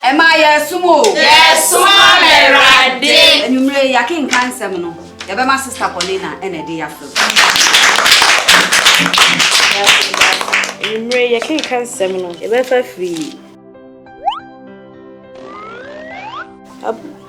Ɛmaa yɛɛsom o. Yɛɛsom ama Awurade. Anwumerɛ yi yɛakenkan nsɛm no, yɛbɛma Sista Paulina na ɛde yɛafrɛ mu. Anwumerɛ yi yɛkenkan nsɛm no, yɛbɛfa firi.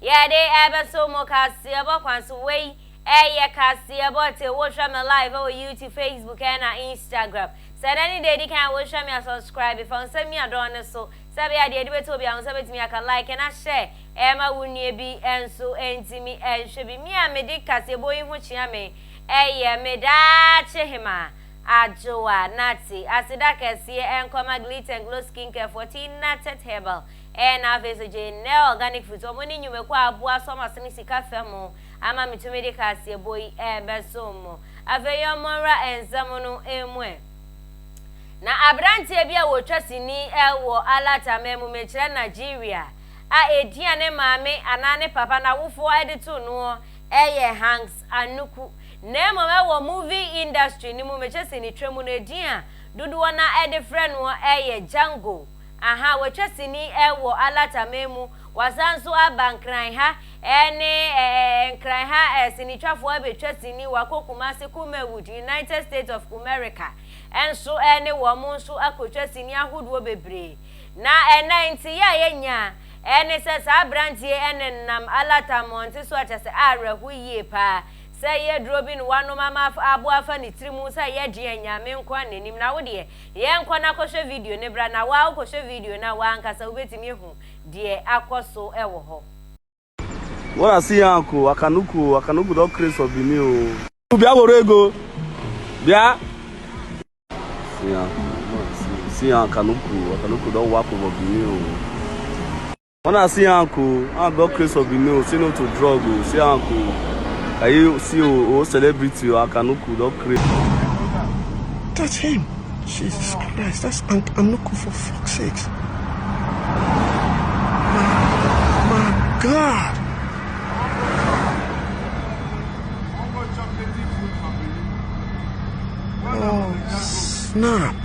Yɛde ɛbɛso mo kaseɛbɔ kwan so. Wei ɛyɛ kaseɛbɔ te wohwɛ me live ɛwɔ YouTube, Facebook ɛna Instagram. Sɛ ɛnɛ ne deɛ ɛdi kan a wohwɛ me a subscribe, fa wo nsa mia dɔn no so sɛ ɛbɛyɛ a deɛ ɛde bɛto obiara ho sɛ bɛtumi aka like na share ɛma wo nua bi nso ntumi nhwɛ bi. Me a mede kaseɛbɔ yi ho kyea me ɛyɛ me daakye hemaa Adjoa Nartey. Aseda kɛseɛ ɛnkɔma Glitter and Glow Skincare foɔ, Tinatet Herbal Ɛɛ na afei nso gye nnɛ organic foods ɔmo ne nnwumakuo a aboa so ɔmo asene sika fa mu ama me tumi de kaseɛbɔ yi ɛɛbɛ som mo afei yɛ ɔmo nwura nsɛm no mu ɛ na abranteɛ bi a ɔtwa sini ɛwɔ alert aman mu mekyerɛ Nigeria a ɛdin a ne maame anaa ne papa nawofoɔ ɛde to noɔ ɛyɛ Hanks Anuku na mmom ɛwɔ movie industry no mu mekyɛ sɛ ne twa mu no ɛdin a dodoɔ no ara ɛde frɛ noɔ ɛyɛ Django Ahaa, watwa sini eh wɔ Alataman mu, wasan nso aba Nkran ha eh ne eh eh eh Nkran ha eh sinitwafoɔ abɛtwa sini, wakɔ Kumasi, Kumawood, United States of Kumerica eh nso eh ne wɔn nso akɔtwa sini ahodoɔ bebree. Na eh na nteeɛ a yɛnya eh ne sɛ saa aberanteɛ eh nenam Alata mmɔnte so a kyɛ sɛ awerɛho yie paa sɛ ɛyɛ aduro bi na wanom ama aboa afa ne tiri mu sɛ yɛdeɛ Nyame nkoa na nim na wodeɛ Yɛ nkɔ na kɔhwɛ video no bra na waa wokɔhwɛ video no a waa nkasa wobɛtumi ahu deɛ akɔ so wɔ hɔ. Wora asi yɛn ako, waka no ku o, waka no ku dɔ kre sɔ bi ni o. Bia woro ego, bia. Asi yɛn ako, wora asi yɛn asi yɛn aka no ku, waka no ku dɔ wako bɔ bi ni o. Ɔno a si anko a bɔ craze of bini o si no to drug o si anko ayi si o o celebrity o aka no ku dɔ craze. That's him. Jesus Christ, that's Aunt Anuku for fuck's sake. My, my God. Oh, snap.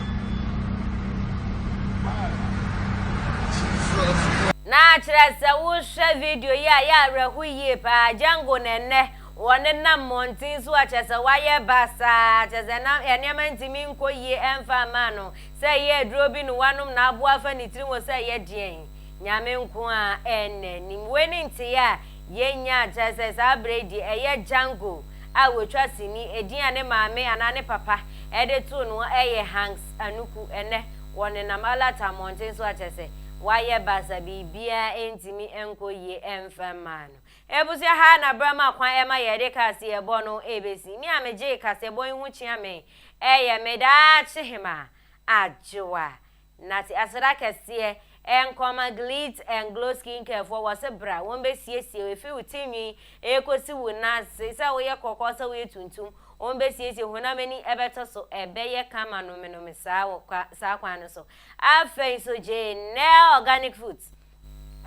Na kyerɛ sɛ wohwɛ video yi a, yɛ awerɛho yie paa. Django na ɛnnɛ wɔnenam mmɔnten so a kyerɛ sɛ wayɛ basaa, kyerɛ sɛ na nneɛma ntumi nkɔ yie ɛmfa mmaa no. Sɛ ɛyɛ aduro bi na wanom na aboa afa ne tirim hɔ sɛ ɛyɛ deɛn, Nyame nko ara na anim. Wei ne nteeɛ a yɛnya, kyerɛ sɛ saa berɛ yi deɛ ɛyɛ Django. a wɔatwa sini, edin a ne maame anaa ne papa de too no yɛ Hanks Anuku, ɛnnɛ wɔnenam Alata mmɔnten so akyerɛ sɛ wayɛ baasa, biribiara ntumi nkɔ yie mfa mmaa no. Abusua ha na berɛ ma kwan ɛma yɛde kaseɛbɔ no bɛsi. Me a megyee kaseɛbɔ yi ho kyea me yɛ me daakye hemaa, Adwoa Nate aseda kɛseɛ ɛɛ nkɔma Glitz and Glow Skincare foɔ wɔ se bra wɔn bɛ siesie wo ɛfiri wo ti nwi ɛɛkɔ si wo nan ase sɛ wo yɛ kɔkɔɔ sɛ wo yɛ tuntum wɔn bɛ siesie honam ani ɛbɛ tɔ so ɛbɛ yɛ kama nome nome saa wɔ kwa saa kwan no so afei nso Janelle Organic Foods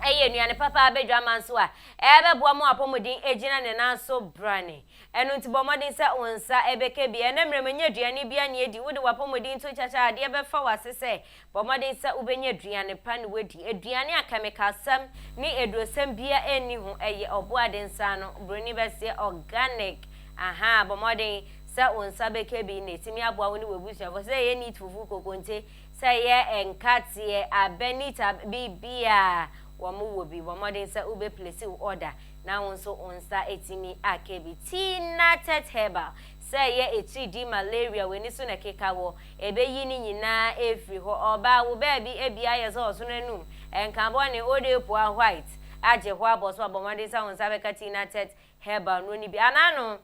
ɛyɛ nnuane papa abɛ dwaman so a ɛɛbɛ boa mo apɔmuden agyina ne nan so brane Ɛno nti, bɔ mmɔden sɛ wo nsa bɛka bi. Ɛnnɛ mmerɛ mu, ɛnyɛ aduane biara na yɛdi. Wode w'apɔmuden to kyakya a, adeɛ bɛfa w'ase sɛ. Bɔ mmɔden sɛ wobɛnya aduane pa na woadi. Aduane a kɛmikalsɛm ne adurosɛm biara nni ho. Ɛyɛ ɔboade nsa ano, buroni bɛseɛ, organic. Ahaa, bɔ mmɔden sɛ wo nsa bɛka bi na ɛtumi aboa wo ne w'abusuafoɔ. Sɛ ɛyɛ neat fufu, kokonte, sɛ ɛyɛ nkateɛ, abɛ, neat abɛ, biribiara wɔwɔ bi. Bɔ mmɔden sɛ wobɛplesi wo order. na wo nso wo nsa atumi aka bi. Tea Nattet Herbal, sɛ ɛyɛ atiridii, malaria, w'ani so na ɛkeka hɔ, ɛbɛyi ne nyinaa afiri hɔ. Ɔbaa, wo baabi abia ayɛ sɛ ɔsono anum, ɛnka bɔne, Old Apuaa White agye hɔ abɔ so a, bɔ mmɔden sɛ wo nsa bɛka Tea Nattet Herbal nnuro no bi anaa no.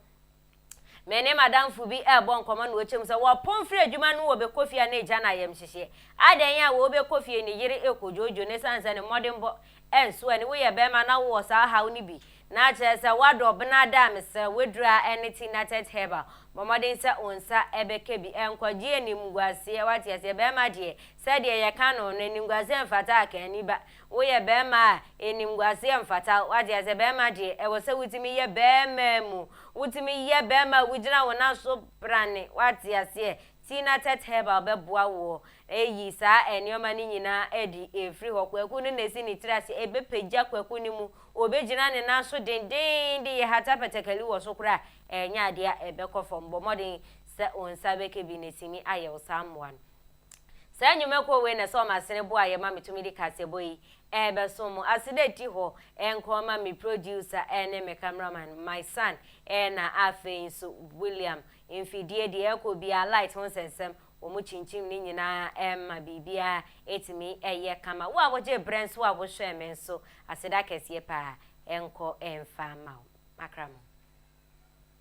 Me ne m'adamfo bi rebɔ nkɔmmɔ na ɔkyɛm sɛ wɔpɔn firi adwuma no wɔbɛkɔ fie a na ɛgya no ayamhyehyeɛ. Adɛn a wɔrebɛkɔ fie ne yere rekɔ dwoodwoo no ɛsiane sɛ ne mmɔdenbɔ nso ani. Woyɛ barima na wowɔ saa haw no bi na kyerɛ sɛ woadɔ ɔbena ada a, mesrɛ wo aduro a ɛne Tea Nutted Herbal, bɔ mmɔden sɛ wo nsa bɛka bi. Nkwagyeɛ animguaseɛ, woate aseɛ. Barima deɛ, sɛdeɛ yɛka no no, animguaseɛ mfata akanniba. Woyɛ bɛɛma a, animguaseɛ mfata wo. Wate aseɛ? Bɛɛma deɛ, ɛwɔ sɛ wotumi yɛ bɛɛma mu. Wotumi yɛ bɛɛma a wogyina wo nan so prane. Wate aseɛ? Tina Tett Herbal bɛboa woɔ ayi saa nneɛma no nyinaa adi afiri hɔ. Kwaku no na ɛsi ne tiri aseɛ. Ɛbɛpagya Kwaku no mu. Ɔbɛgyina ne nan so dendenden de yɛhata patakali wɔ so koraa a, ɛnyɛ adeɛ a ɛbɛkɔ fam. Bɔ mmɔden sɛ wo nsa bɛka bi na sini ayɛ wo saa mmoa no. Saa nnwumakuo wei na ɛsɛ wɔn asene boa yɛ ma metumi de kaseɛbɔ yi rebɛsom mo. Aseda ɛti hɔ nkoa ma me producer ne me cameraman, my son na afei nso William. Mfidie deɛ ɛkɔ biara, light ho nsɛnsɛm, wɔn kyinkyim ne nyinaa ɛma biribiara ɛtumi ɛyɛ kama. Wo a wogyee berɛ nso a wohwɛɛ me nso, aseda kɛseɛ paa ɛnkɔ ɛmfa mma wo. Makra mo.